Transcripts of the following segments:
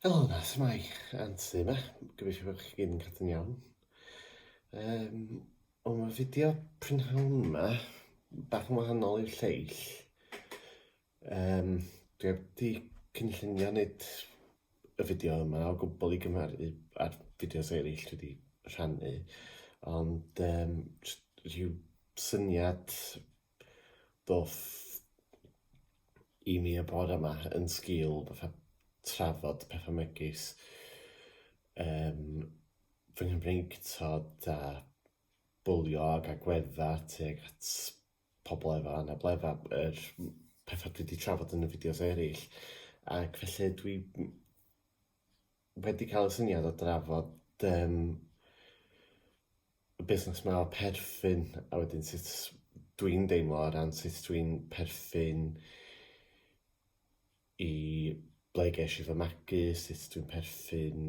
Helo 'na, shwmae? Anse 'ma, gobeithio bod chi gyd yn cadw'n iawn. Yym, o mae'r fideo prynhawn 'ma bach yn wahanol i'w lleill. Yym, dwi heb 'di cynllunio wneud y fideo yma o gwbl i gymharu â'r fideos eraill dwi 'di rhannu, ond yym jyst rhyw syniad Do'th i mi y bore yma yn sgil fatha trafod petha megis yym fy Nghymreictod a bwlio ag agwedda tuag at pobl efo anabledda yr m- petha dwi 'di trafod yn y fideos eryll ac felly dwi m- wedi cael y syniad o drafod um, y busnes yma o perthyn a wedyn sut dwi'n deimlo o ran sut dwi'n perthyn i ble ges i fy magu, sut dwi'n perthyn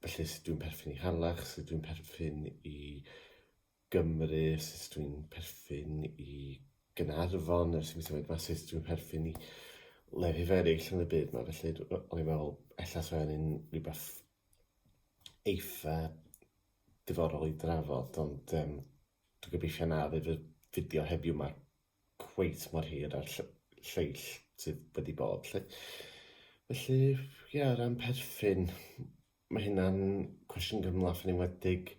felly sut dwi'n perthyn i Harlech, sut dwi'n perthyn i Gymru, sut dwi'n perthyn i Gaernarfon, ers i mi symud 'ma, sut dwi'n perthyn i lefydd eraill yn y byd 'ma. Felly, d- o- o'n i'n meddwl, ella 'sa hynny'n rhywbeth eitha diddorol i drafod, ond yym dwi'n gobeithio na fydd y fideo heddiw 'ma cweit mor hir â'r ll- lleill sydd wedi bod 'lly. Felly, ie, o ran perthyn, Mae hynna'n cwestiwn gymhleth yn enwedig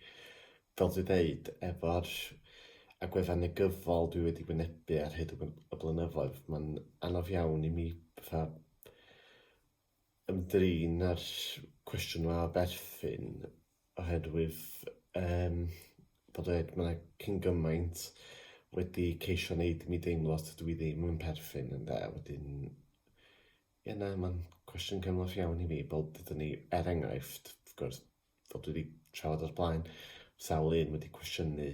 fel dwi'n dweud efo'r agweddau negyddol dwi wedi gwynebu ar hyd y blynyddoedd mae'n anodd iawn i mi fatha ymdrin â'r cwestiwn yma o berthyn oherwydd yym fel dwi dweud mae cyn gymaint wedi ceisio neud i mi deimlo os dydw i ddim yn perthyn ynde wedyn Ie na ma'n cwestiwn cymhleth iawn i fi fel dudwn ni er enghraifft wrth gwrs fel dwi 'di trafod o'r blaen sawl un wedi cwestiynu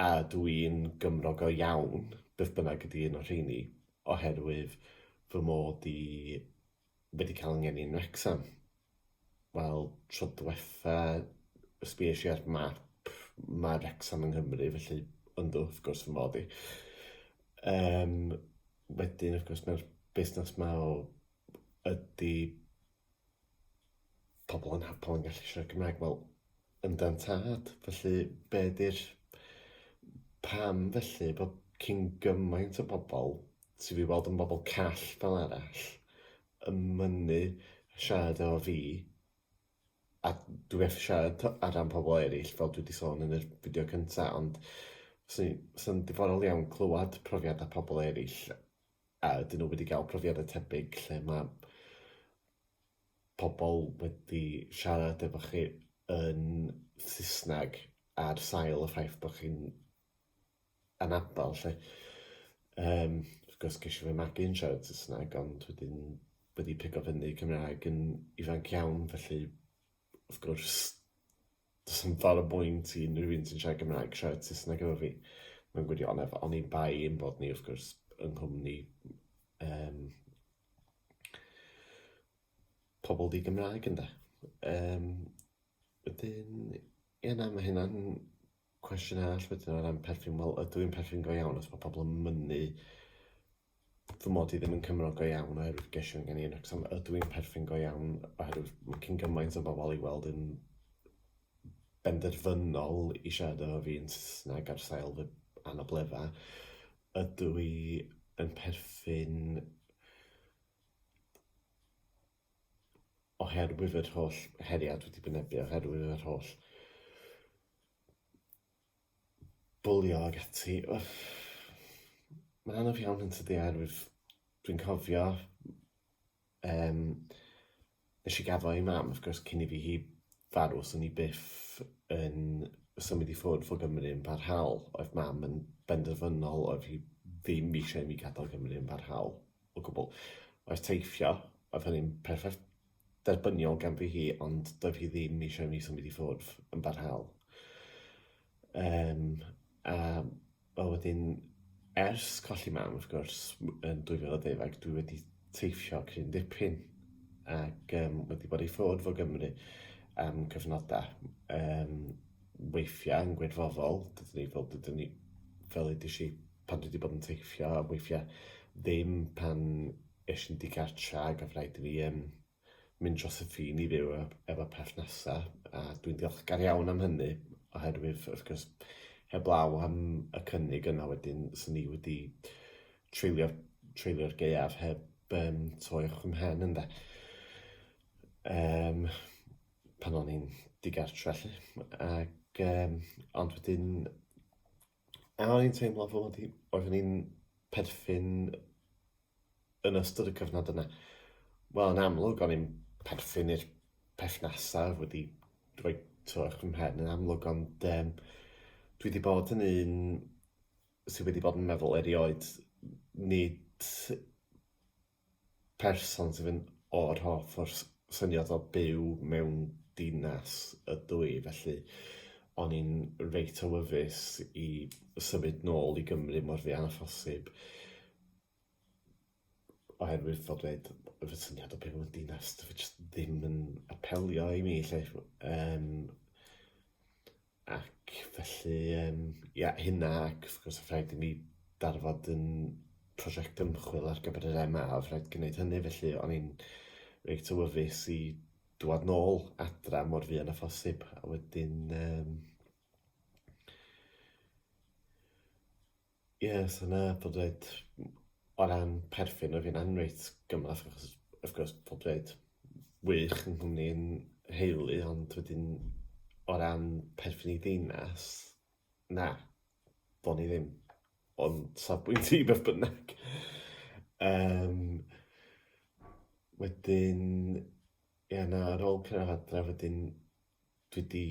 a ydw i'n Gymro go iawn beth bynnag ydi un o'r rheini oherwydd fy mod i wedi ca'l 'y ngeni yn Wrecsam. Wel, tro diwetha, sbïais i ar map, mae Wrecsam yng Nghymru, felly yndw, wrth gwrs fy mod i. Um, wedyn, wrth gwrs, mae'r busnes ma o ydy pobl yn hapol yn gallu siarad Cymraeg, wel, yndan tad, felly be di'r pam felly bod cyn gymaint o bobl sydd wedi weld yn bobl call fel arall, yn mynnu siarad efo fi a dwi methu siarad t'o' ar ran pobol eryll fel dwi 'di sôn yn yr fideo cynta ond fyswn i fysa'n diddorol iawn clywad profiada pobol eryll a ydyn n'w wedi ga'l profiada tebyg lle ma' pobol wedi siarad efo chi yn Sysnag ar sail y ffaith bo' chi'n anabl 'lly. Yym wrth gwrs gesh i fy magu yn siarad Saesneg ond wedyn wedi pigo fyny Cymraeg yn ifanc iawn felly wrth gwrs do's na'm ffor o bwynt i unrhyw un sy'n siarad Cymraeg siarad Saesneg efo fi mewn gwirionedd oni bai ein bod ni wrth gwrs yng nghwmni yym pobol di-Gymraeg ynde? Yym wedyn ie na ma' hynna'n Cwestiwn arall wedyn o ran perthyn, wel ydw i'n perthyn go iawn os mae pobl yn mynnu fy mod i ddim yn Cymro go iawn oherwydd geisiwn gen i yn Wrecsam, ydw i'n perthyn go iawn oherwydd mae cyn gymaint o bobl i weld yn benderfynol i siarad efo fi yn Saesneg ar sail fy anabledda. Ydw i yn perthyn oherwydd yr holl heriau dwi wedi wynebu, oherwydd yr holl bwlio ag ati. Mae'n anodd iawn yn tydi oherwydd dwi'n cofio yym nes i gaddo i mam wrth gwrs cyn i fi hi farw so o'n i byth yn symud i ffwrdd o Gymru yn barhaol, oedd mam yn benderfynol oedd hi ddim isio i mi gadol Gymru yn barhaol. o gwbl. Oes teithio, oedd hynny'n perffaith derbyniol ganddi hi, ond doedd hi ddim eisiau i mi symud i ffwrdd yn barhaol. Um, a o wedyn, ers colli mam, wrth gwrs, yn 2012, dwi wedi teithio cyn dipyn ac um, wedi bod i ffwrdd fo Gymru am cyfnodau. Um, weithiau yn gwirfoddol, dydyn ni fel, dydyn ni, fel ydych chi pan dwi 'di bod yn teithio weithia' ddim pan esh i'n digartra ag odd raid i fi yym mynd dros y ffin i fyw ef- efo perthnasa a dwi'n ddiolchgar iawn am hynny oherwydd wrth gwrs heblaw am y cynnig yna wedyn swn i wedi treulio treulio'r gaeaf heb yym troi wrth 'y mhen ynde? Yym pan o'n i'n digartra 'lly ag yym ond wedyn A o'n i'n teimlo fod hi... Oeddwn i'n perthyn yn ystod y cyfnod yna. Wel, yn amlwg, o'n i'n perthyn i'r perthnasau oedd wedi rhoi twrch fy mhen yn amlwg, ond yym dwi 'di bod yn un sy wedi bod yn meddwl erioed, nid person sydd yn o'r hoff o'r syniad o byw mewn dinas ydw i, felly o'n i'n reit awyddus i symud nôl i Gymru mor fuan â phosib oherwydd fel dweud, fy syniad o byw mewn dinas, dyw e jyst ddim yn apelio i mi 'lly. Yym. Ac felly, um, ia, hynna, ac wrth gwrs, rhaid i ni darfod yn prosiect ymchwil ar gyfer yr MA, a rhaid gwneud hynny, felly o'n i'n reit awyddus i dwad nôl adra mor fuan a phosib, a wedyn... Um, Ie, so 'na pob dweud m- o ran perthyn o' fi'n anreit gymhleth achos wrth gwrs pob dweud wych yng nghwmni 'yn nheulu ond wedyn o ran perthyn i ddinas, na, do'n i ddim, ond safbwynt i beth bynnag. Yym wedyn ie na ar ôl cyrradd adre wedyn dwi 'di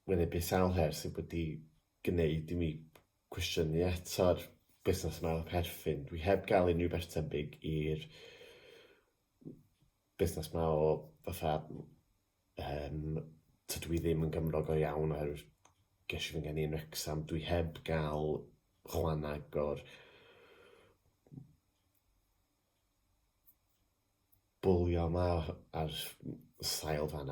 wynebu sawl her sy wedi gneud i mi cwestiynu eto'r busnes yma o perthyn. Dwi heb gael unrhyw beth tebyg i'r busnes yma o fatha um, tydw i ddim yn gymrog o iawn oherwydd ges i fy ngeni yn Wrexham. Dwi heb gael chwan agor bwlio yma ar sail fan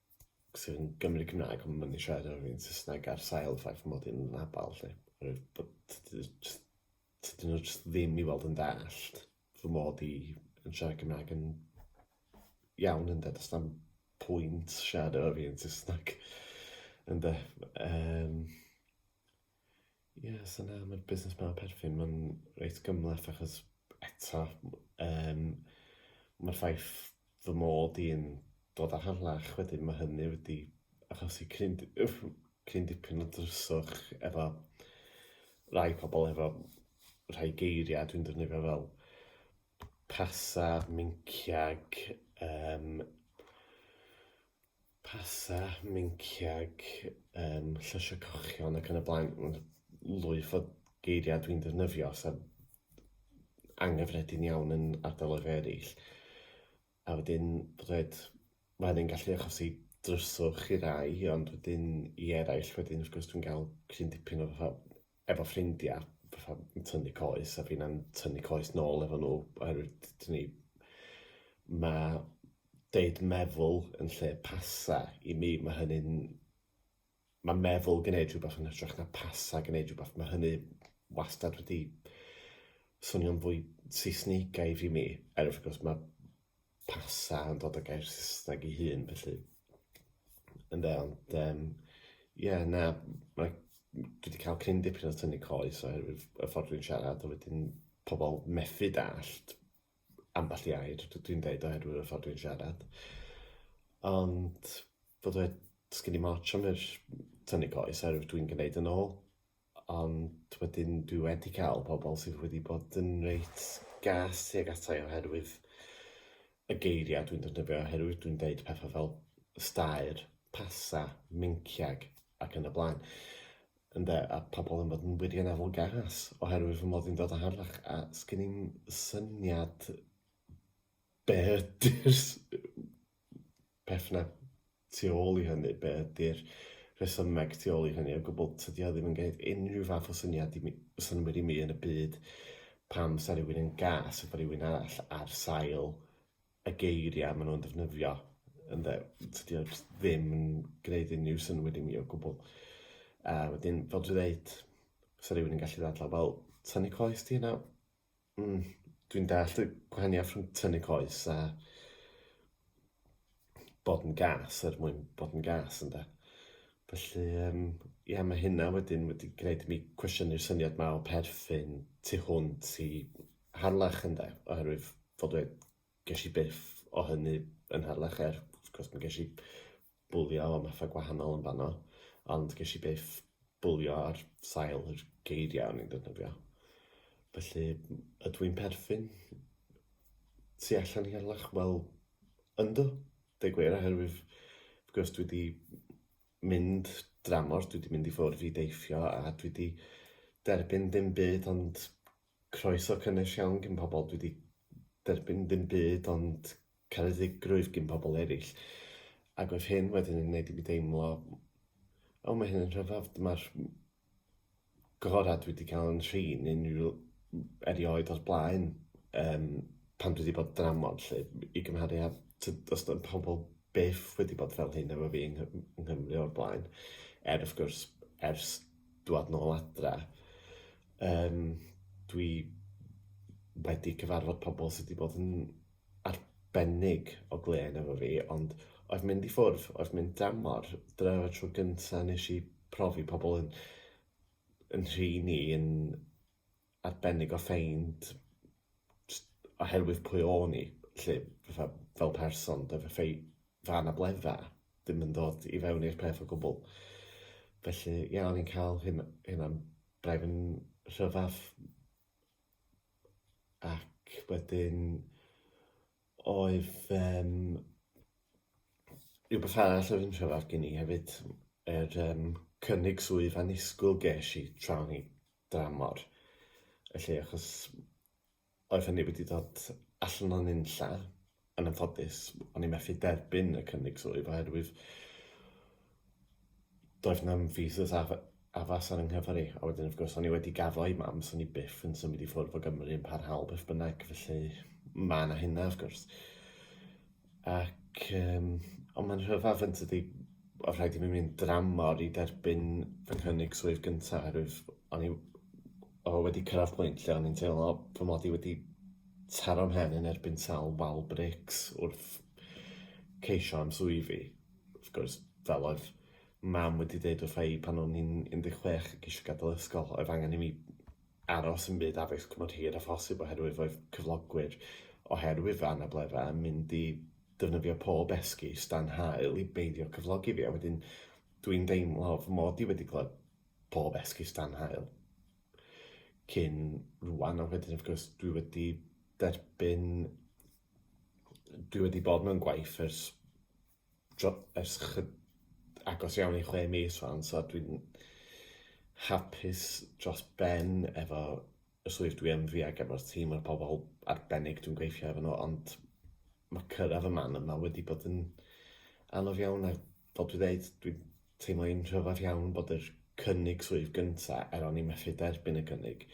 sydd yn Gymru Cymraeg ond mynd i siarad ar fi'n Saesneg ar sail y ffaith mod i'n anabal lly. Oherwydd bod tydi jyst tydi nhw jyst ddim i weld yn dallt fy mod i yn siarad Cymraeg yn iawn ynde does na'm pwynt siarad efo fi yn Saesneg ynde yym. Ie, so na, mae'r busnes 'ma o perthyn, mae'n reit gymhleth achos eto yym ma'r ffaith fy mod i'n dod o Harlech wedyn ma' hynny wedi achosi cryn d- wff cryn dipyn o dryswch efo rai pobol efo rhai geiria' dwi'n defnyddio fel pasar, minciag, yym. Pasau, minciag, um, llysio cochion ac yn y blaen. Lwyf o geiriau dwi'n defnyddio sy'n angyffredin iawn yn ardaloedd eraill. A wedyn, bydded, mae hynny'n gallu achosi dryswch i rai, ond wedyn i eraill wedyn wrth gwrs dwi'n cael cryn dipyn o fatha efo ffrindia, fatha yn tynnu coes a finna'n tynnu coes nôl efo nhw oherwydd dyn ni... ma' deud meddwl yn lle pasa i mi ma' hynny'n... ma' meddwl gneud rhywbeth yn hytrach na pasa gneud rhywbeth ma' hynny wastad wedi swnio'n fwy Saesnigaidd i mi er wrth gwrs ma' pasa yn dod o gair Saesneg ei hun, felly. Ynde, ond um, ie, na, mae, dwi wedi cael cyn dipyn o tynnu coes oherwydd y ffordd dwi'n siarad, a wedyn pobl methu dallt ambell i air dwi'n dweud oherwydd y ffordd dwi'n siarad. Ond, bod dweud, sgyn i moch am yr tynnu coes oherwydd dwi'n gwneud yn ôl. Ond wedyn dwi wedi cael pobl sydd wedi bod yn reit gas tuag ata i oherwydd y geiriau dwi'n defnyddio, oherwydd dwi'n deud pethau fel staer, pasa, menciag ac yn y blaen. Ynde, a pobl yn bod yn wirioneddol gas oherwydd fy mod i'n dod o Harlech a sgyn i'm syniad be' ydi'r s- peth 'na tu ôl i hynny, be ydy'r rhesymeg tu ôl i hynny o gwbl, tydi o ddim yn gwneud unrhyw fath o syniad i mi, o synnwyr i mi yn y byd pam 'sa rhywun yn gas efo rhywun arall ar sail y geiriau maen nhw'n defnyddio ynde, tydi o jyst ddim yn gwneud unrhyw synnwyr i mi o gwbl. A wedyn, fel dwi'n dweud, 'sa rhywun yn gallu ddadlau, wel, tynnu coes ti nawr. Mm, dwi'n dallt y gwahaniaeth rhwng tynnu coes a bod yn gas er mwyn bod yn gas ynde. Felly yym ia ma' hynna wedyn wedi gwneud i mi cwestiynu'r syniad 'ma o perthyn tu hwnt i Harlech ynde oherwydd fod wedi... ges i byth o hynny yn Harlech er wrth gwrs mi ges i bwlio am phethau gwahanol yn fanno, ond ges i byth bwlio ar sail yr geiriau o'n i'n ddefnyddio. Felly, ydw i'n perthyn tu allan i Harlech? Wel, yndw, deu gwir, oherwydd wrth gwrs dwi wedi mynd dramor, dwi wedi mynd i ffwrdd i deithio a dwi wedi derbyn dim byd ond Croeso cynnes iawn gin pobl, dwi 'di derbyn ddim byd ond caredigrwydd gin pobl eraill, ac oedd hyn wedyn yn gwneud i mi deimlo, o mae hyn yn rhyfedd, dyma'r gorau dwi 'di cael yn nhrin unrhyw... erioed o'r blaen yym pan dwi 'di bod yn dramor 'lly, i gymharu â t- does dim pobl byth wedi bod fel hyn efo fi yng Nghy- yng Nghymru o'r blaen, er wrth gwrs ers dŵad nôl adra. Yym dwi wedi cyfarfod pobl sy 'di bod yn arbennig o glên efo fi ond oedd mynd i ffwrdd, oedd mynd dramor, dyna oedd y tro gynta' nesh i profi pobl yn yn nhrin ni yn arbennig o ffeind jyst oherwydd pwy o'n i 'lly fatha fel person doedd y ffei- fy anabledda' ddim yn dod i fewn i'r peth o gwbwl felly ie o'n i'n ca'l hyn- hunan Braidd yn rhyfedd ac wedyn oedd yym rhywbeth arall oedd yn rhyfedd gen i hefyd yr yym cynnig swydd annisgwyl ges i tra o'n i dramor felly achos Oedd hynny wedi dod allan o nunlla, yn anffodus, o'n i methu derbyn y cynnig swydd oherwydd doedd na'm visas af- addas ar 'y nghyfer i, a wedyn wrth gwrs o'n i wedi gaddo i mam, so o'n i byth yn symud i ffwrdd o Gymru yn parhaol beth bynnag, felly ma' 'na hynna wrth gwrs. Ac yym ond mae'n rhyfedd yn tydi? Oedd rhaid i mi mynd dramor i derbyn fy nghynnig swydd gynta oherwydd o'n i o wedi cyrraedd pwynt lle o'n i'n teimlo fy mod i wedi taro mhen yn erbyn sawl wal brics wrth ceisio am swyddi. Wrth gwrs fel oedd mam wedi deud wrtha i pan o'n i'n 16 ac isio gadael ysgol oedd angen i mi aros yn byd addysg cymorth hir â phosib oherwydd roedd cyflogwyr oherwydd anableddau yn mynd i ddefnyddio pob esgus dan haul i beidio cyflogi fi a wedyn dwi'n deimlo fy mod i wedi clywed pob esgus dan haul cyn rwan a wedyn wrth gwrs dwi wedi derbyn dwi wedi bod mewn gwaith ers dro- ers chy- agos iawn i chwe mis rwan so dwi'n hapus dros ben efo y swydd dwi yn fi ac efo'r tîm a'r pobl arbennig dwi'n gweithio efo nhw ond ma' cyrraedd y man yma wedi bod yn anodd iawn a fel dwi ddeud dwi teimlo i'n rhyfadd iawn bod yr cynnig swydd gynta' er o'n i methu derbyn y cynnig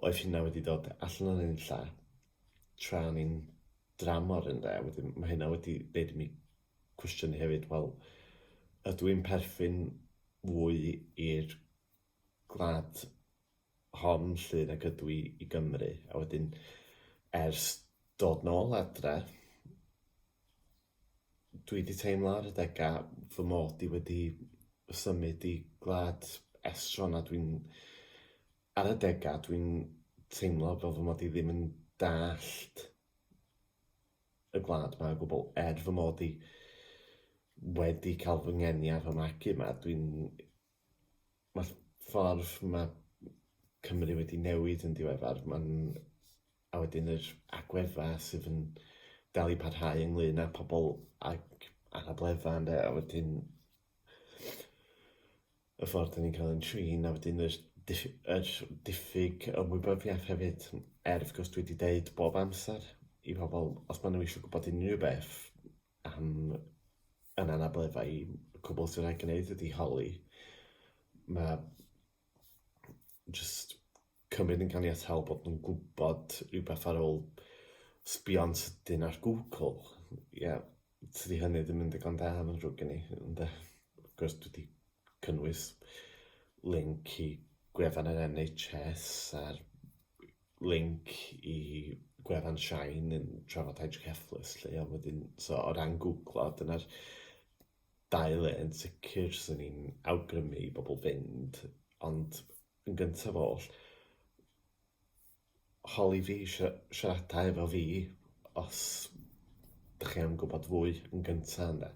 oedd hynna wedi dod allan o nunlla tra o'n i'n dramor ynde, a wedyn ma' hynna wedi neud i mi cwestiynu hefyd, wel, ydw i'n perthyn fwy i'r gwlad hon 'lly nag ydw i i Gymru? A wedyn, ers dod nôl adre, dwi 'di teimlo ar adega fy mod i wedi symud i gwlad estron a dwi'n Ar adegau dwi'n teimlo fel fy mod i ddim yn dallt y gwlad 'ma o gwbl, er fy mod i wedi cael fy ngeni ar fy magu 'ma, dwi'n... ma'r ffordd ma' Cymru wedi newid yn diweddar, ma'n... a wedyn yr agwedda' sydd yn dal i parhau ynglŷn â pobol ag anabledda' ynde, a wedyn y ffordd dan ni'n cael ein trin a wedyn yr, yr diffyg ymwybyddiaeth hefyd er wrth gwrs dwi wedi deud bob amser i pobl os maen nhw eisiau gwybod unrhyw beth am yn anableddau i cwbl sy'n rhaid gwneud ydi holi mae just cymryd yn ganiataol bod nhw'n gwybod rhywbeth ar ôl sbio'n sydyn ar Google. Ie, tydi hynny ddim yn ddigon da yn ddrwg gen i, ynde? Wrth gwrs dwi 'di cynnwys link i gwefan yr NHS a'r link i gwefan Shine yn trafod hydrocephalus 'lly a wedyn so o ran gwglo dyna'r dau le yn sicr 'swn i'n awgrymu i bobl fynd ond Yn gyntaf oll, holi fi i siarada efo fi os dych chi am gwybod fwy yn gyntaf ynde.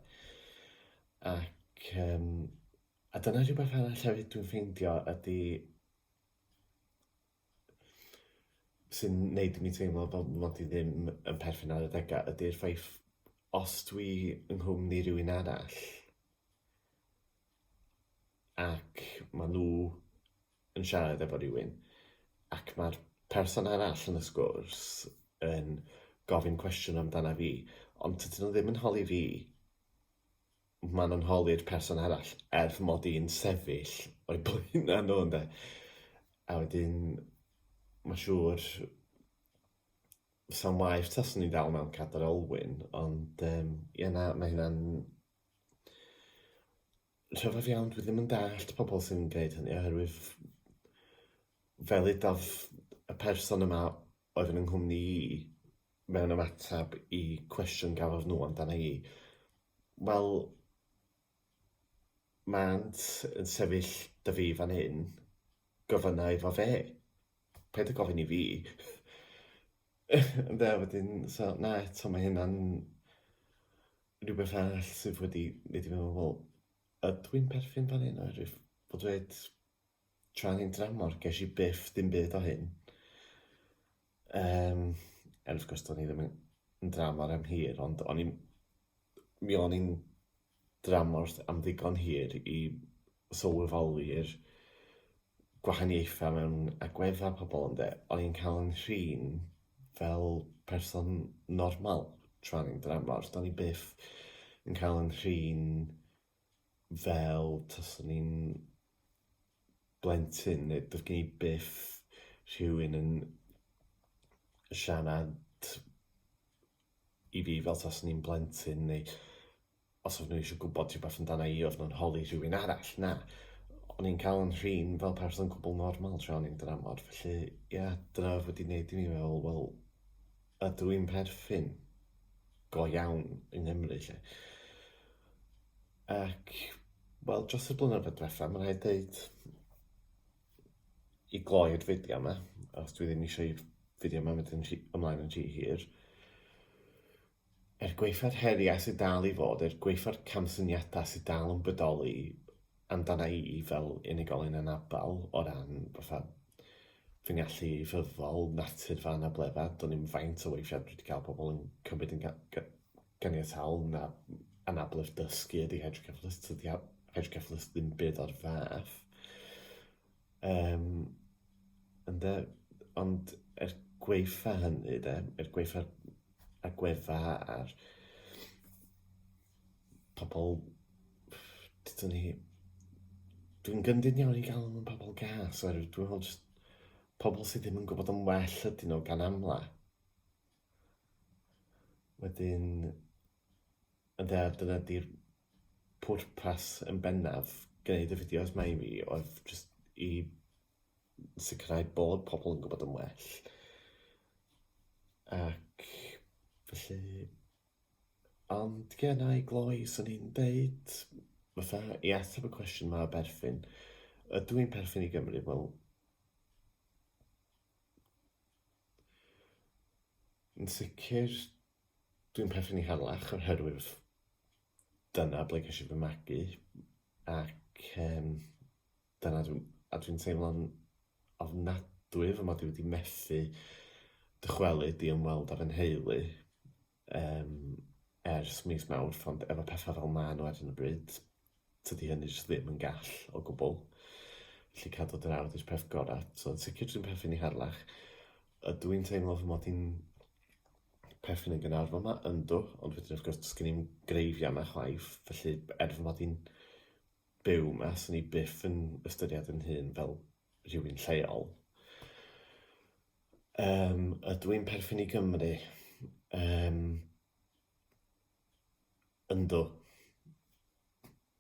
Ac yym a dyna rhywbeth arall hefyd dwi'n ffeindio ydy sy'n wneud i mi teimlo fel fy mod i ddim yn perthyn ar adegau ydy'r ffaith os dwi yng nghwmni rywun arall ac maen nhw yn siarad efo rhywun ac mae'r person arall yn y sgwrs yn gofyn cwestiwn amdana fi ond tydyn nhw ddim yn holi fi, maen nhw'n holi'r person arall er fy mod i'n sefyll o'i blaenau nhw ynde. A wedyn mae'n siŵr 'sa'n waeth taswn i'n dal mewn cadr olwyn ond yym ie na, mae hynna'n Rhyfedd iawn, dwi ddim yn dallt pobl sy'n gwneud hynny oherwydd fel udodd y person yma oedd yn 'y nghwmni i mewn ymateb i cwestiwn gafodd nhw amdana i, wel, mânt yn sefyll 'da fi fan hyn, gofynna iddo fe, paid â gofyn i fi! Ynde, wedyn, so, na, eto, ma' hynna'n... rhywbeth arall sydd wedi mynd i meddwl, wel, ydw i'n perthyn fan hyn oherwydd o dweud tra ni'n dramor, ges i byth dim byd o hyn. Um, er wrth gwrs, do'n i ddim yn dramor am hir, ond o'n i'n... mi o'n i'n dramor am ddigon hir i sylweddoli'r gwahaniaethau mewn agweddau pobl ynde, o'n i'n cael 'nghrin fel person normal tra o'n i'n dramor, do'n i byth yn cael 'nghrin fel taswn i'n blentyn neu doedd gen i byth rhywun yn siarad i fi fel taswn i'n blentyn neu Os oedd nhw eisiau gwybod rhywbeth amdana i oedd nhw'n holi rhywun arall, na. O'n i'n cael yn rhin fel person cwbl normal tra o'n i'n dramor, felly ie, yeah, dyna oedd wedi gwneud i mi fel, wel, ydw i'n perthyn go iawn yng Nghymru, lle. Ac, wel, dros y blynyddoedd diwetha, mae'n rhaid dweud, i gloi'r fideo yma, os dwi ddim eisiau i'r fideo yma mynd yn rhy, ymlaen yn rhy hir, Er gwaetha'r heriau sydd dal i fod, er gwaetha'r camsyniadau sydd dal yn bodoli amdana i fel unigolyn anabl o ran fatha fy ngallu ieithyddol, natur fy anableddau, do'n i'm faint o weithiau dwi wedi cael pobl yn cymryd yn ga- ga- ganiataol na anabledd dysgu ydi hydroceffalus, tydi ha- hydroceffalus ddim byd o'r fath. Yym, ynde, ond er gwaetha' hynny 'de, er gwaetha'r agwedda' a'r pobl, ddeudwn i, dwi'n gyndyn iawn i galw nhw'n pobl gas, oherwydd dwi'n meddwl jyst pobl sydd ddim yn gwybod yn well ydyn nhw gan amla'. Wedyn, ynde, a dyna 'di'r pwrpas yn bennaf gwneud y fideos 'ma i fi oedd jyst i sicrhau bod pobl yn gwybod yn well. Ac felly... Ond ie, na, i gloi, 'swn i'n deud, fatha, i ateb y cwestiwn 'ma o berthyn, ydw i'n perthyn i Gymru? Wel, yn sicr Dwi'n perthyn i Harlech oherwydd dyna ble ges i fy magu ac um, dyna dwi'n, a dwi'n teimlo'n ofnadwy fy mod i wedi methu dychwelyd i ymweld â fy nheulu um, ers mis Mawrth ond efo pethau fel maen nhw ar hyn o bryd tydi hynny jyst ddim yn gall o gwbl. Felly cadw dy nawdd yw'r peth gorau. So yn sicr dwi'n perthyn i Harlech. Ydw i'n teimlo fy mod i'n perthyn yn Gaernarfon yma? Yndw, ond wedyn wrth gwrs does gen i'm greifiau yma chwaith, felly er fy mod i'n byw yma, swn i byth yn ystyried yn hun fel rhywun lleol. Um, ydw i'n perthyn i Gymru? Um, Yndw.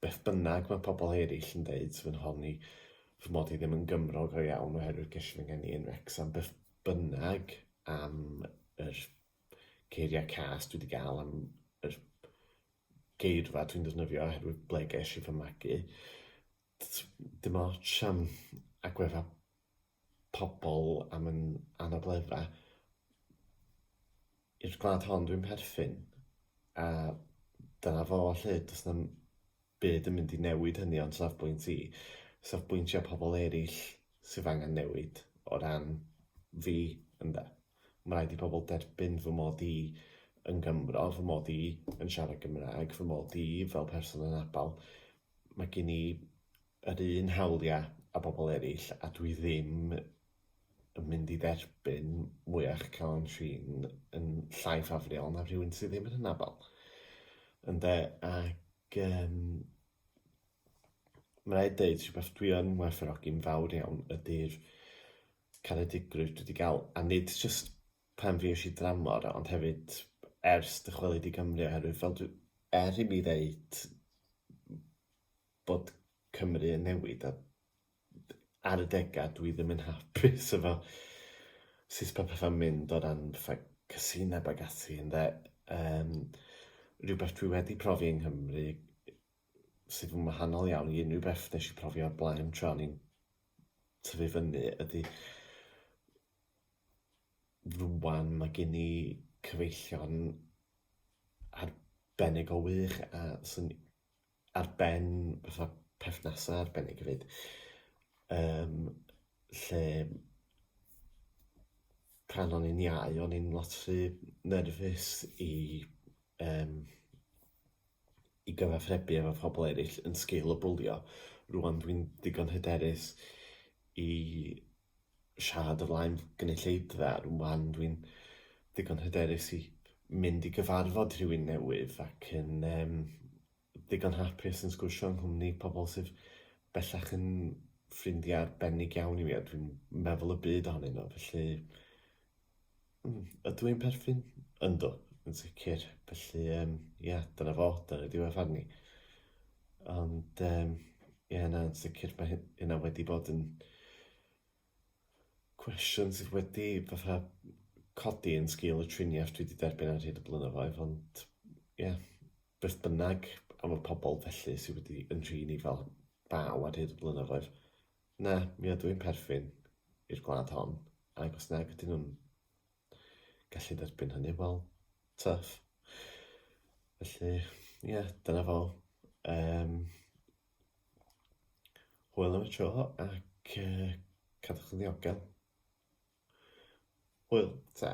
Beth bynnag mae pobl eraill yn dweud, fy nhon i, fy mod i ddim yn Gymro go iawn oherwydd gellir fy ngeni yn Wrecsam, beth bynnag am yr geiriau cas dwi wedi gael am yr geirfa dwi'n defnyddio oherwydd ble ges i fy magu, Dim ots am agwedda pobl am yn anabledda. I'r gwlad hon dwi'n perthyn a dyna fo 'lly, does na'm byd yn mynd i newid hynny o'n safbwynt i. Safbwyntiau pobl eraill sydd angen newid o ran fi ynde. Mae'n rhaid i pobl derbyn fy mod i yn Gymro, fy mod i yn siarad Gymraeg, fy mod i fel person anabl. Mae gen i yr un hawliau a bobl eraill a dwi ddim yn mynd i dderbyn mwyach calon trin yn llai ffafriol na rhywun sydd ddim yn hynafol. Ynde, ac um, mae'n rhaid dweud rhywbeth dwi yn werthfawrogi'n fawr iawn ydy'r caredigrwydd dwi wedi cael, a nid just pan fues i dramor, ond hefyd ers dychwelyd i Gymru oherwydd fel dwi... er i mi ddeud bod Cymru yn newid a ar y degau dwi ddim yn hapus efo sut mae pethau'n mynd o ran fatha casineb ac ati ynde, yym rhywbeth dwi wedi profi yng Nghymru sydd yn wahanol iawn i unrhyw beth wnes i profi o'r blaen tra o'n i'n tyfu fyny ydy rŵan mae gen i cyfeillion arbennig o wych a sy'n ar ben fatha perthnasau arbennig hefyd yym lle pan o'n i'n iau o'n i'n lot rhy nerfus i yym i gyfathrebu efo phobl eraill yn sgil y bwlio. Rŵan dwi'n ddigon hyderus i siarad o flaen gynulleidfa, rŵan dwi'n ddigon hyderus i mynd i gyfarfod rhywun newydd ac yn um, ddigon hapus yn sgwrsio yng nghwmni pobl sydd bellach yn ffrindiau arbennig iawn i mi a dwi'n meddwl y byd ohonyn nhw, felly Mm, ydw i'n perthyn? Yndw, yn sicr. Felly, um, ia, dyna fo, dyna diwedd fan ni. Ond, um, ia, na, yn sicr, mae hynna wedi bod yn cwestiwn sydd wedi fatha codi yn sgil y triniaeth dwi wedi derbyn ar hyd y blynyddoedd, ond, ia, yeah, beth bynnag am y pobl felly sydd wedi yn rhin i fel baw ar hyd y blynyddoedd, Na, mi ydw i'n perthyn i'r gwlad hon, ac os nag ydyn nhw'n gallu derbyn hynny, wel, tuff. Felly, ie, yeah, dyna fo. Um, hwyl am y tro ac uh, cadwch yn ddiogel. Hwyl, ta.